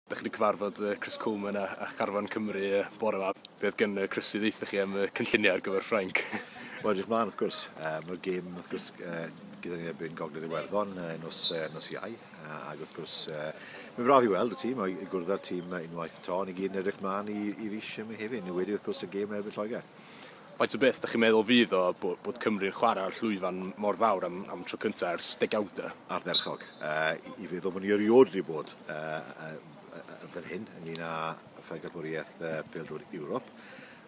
Dach chi wedi cyfarfod uh, Chris Coleman a, a Charfan Cymru uh, bore yma. Be oedd gen uh, Chris i ddeitha chi am uh, cynlluniau ar gyfer Ffrainc? Wel, edrych mlaen, wrth gwrs. Uh, Mae'r gêm, wrth gwrs, uh, gyda ni erbyn Gogledd Iwerddon uh, nos, uh, nos iau. Uh, ac wrth gwrs, uh, mae'n braf i weld y tîm, i gwrdd â'r tîm unwaith to. Ni gyd yn edrych mlaen i, i fis yma hefyd, ni wedi wrth gwrs y gêm erbyn Lloegr. Faint o beth dach chi'n meddwl fydd o bod Cymru'n chwarae ar llwyfan mor fawr am am tro cyntaf ers degawdau? Ardderchog. Yy i fi ddim yn erioed wedi bod yy fan hyn ynglyn â phencampwriaeth yy pêl-drod Ewrop.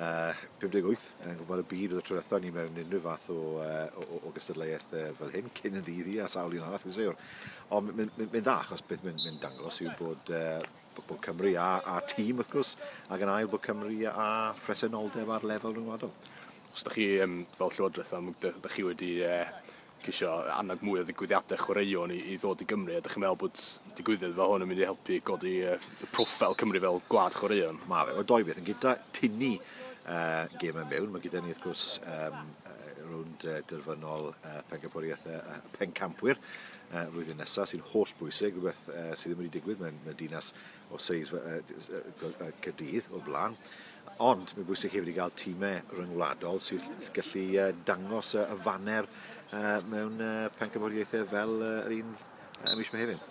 Yy 58 yn gwybod y byd oedd y tro diwethaf ni mewn unrhyw fath o, uh, o, o, o gystadleuaeth uh, fel hyn cyn yn ddydd hi a sawl un arall fi'n siwr. Ond mae'n mynd dda achos beth mae'n mynd dangos yw bod uh, Bwc Cymru a, a tîm wrth gwrs, ac yn ail Bwc Cymru a phresenoldeb ar lefel rhyngwladol. Os ydych chi um, fel Llywodraeth am ydych chi wedi uh, cisio annog mwy o ddigwyddiadau chwaraeon i, i ddod i Gymru, ydych chi'n meddwl bod digwyddiad fel hwn yn mynd i helpu godi uh, y profil Cymru fel gwlad chwaraeon? Mae fe, o doi beth, yn gyda tynnu uh, gym yn mewn, mae gyda ni wrth gwrs um, rownd uh, derfynol uh, pencampwriaeth uh, pencampwyr flwyddyn nesaf sy'n holl bwysig, rhywbeth sydd ddim wedi digwydd mewn y dinas o seis Caerdydd o blaen. Ond mae'n bwysig hefyd i gael tîmau rhyngwladol sy'n gallu dangos y faner mewn pencampwriaethau fel yr un y mis Mehefin.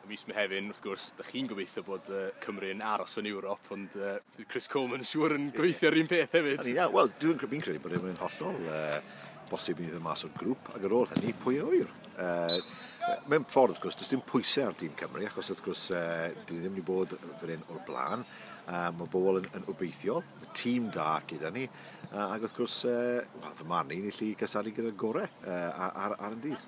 Y mis Mehefin, wrth gwrs, da chi'n gobeithio bod Cymru yn aros yn Ewrop, ond bydd Chris Coleman yn siŵr yn gobeithio yr un peth hefyd. Wel, dwi'n credu bod e'n hollol bosib ni ddim mas o'r grŵp, ac ar ôl hynny, pwy a wyr? Uh, mewn ffordd, wrth gwrs, does dim pwysau ar dîm Cymru, achos wrth gwrs, uh, dyn ni ddim wedi bod fan hyn o'r blaen. Uh, mae bobl yn, yn obeithiol, y tîm da gyda ni, uh, ac wrth gwrs, uh, well, fy marn i'n gallu cysaru gyda'r gorau uh, ar, ar, ar yn dydd.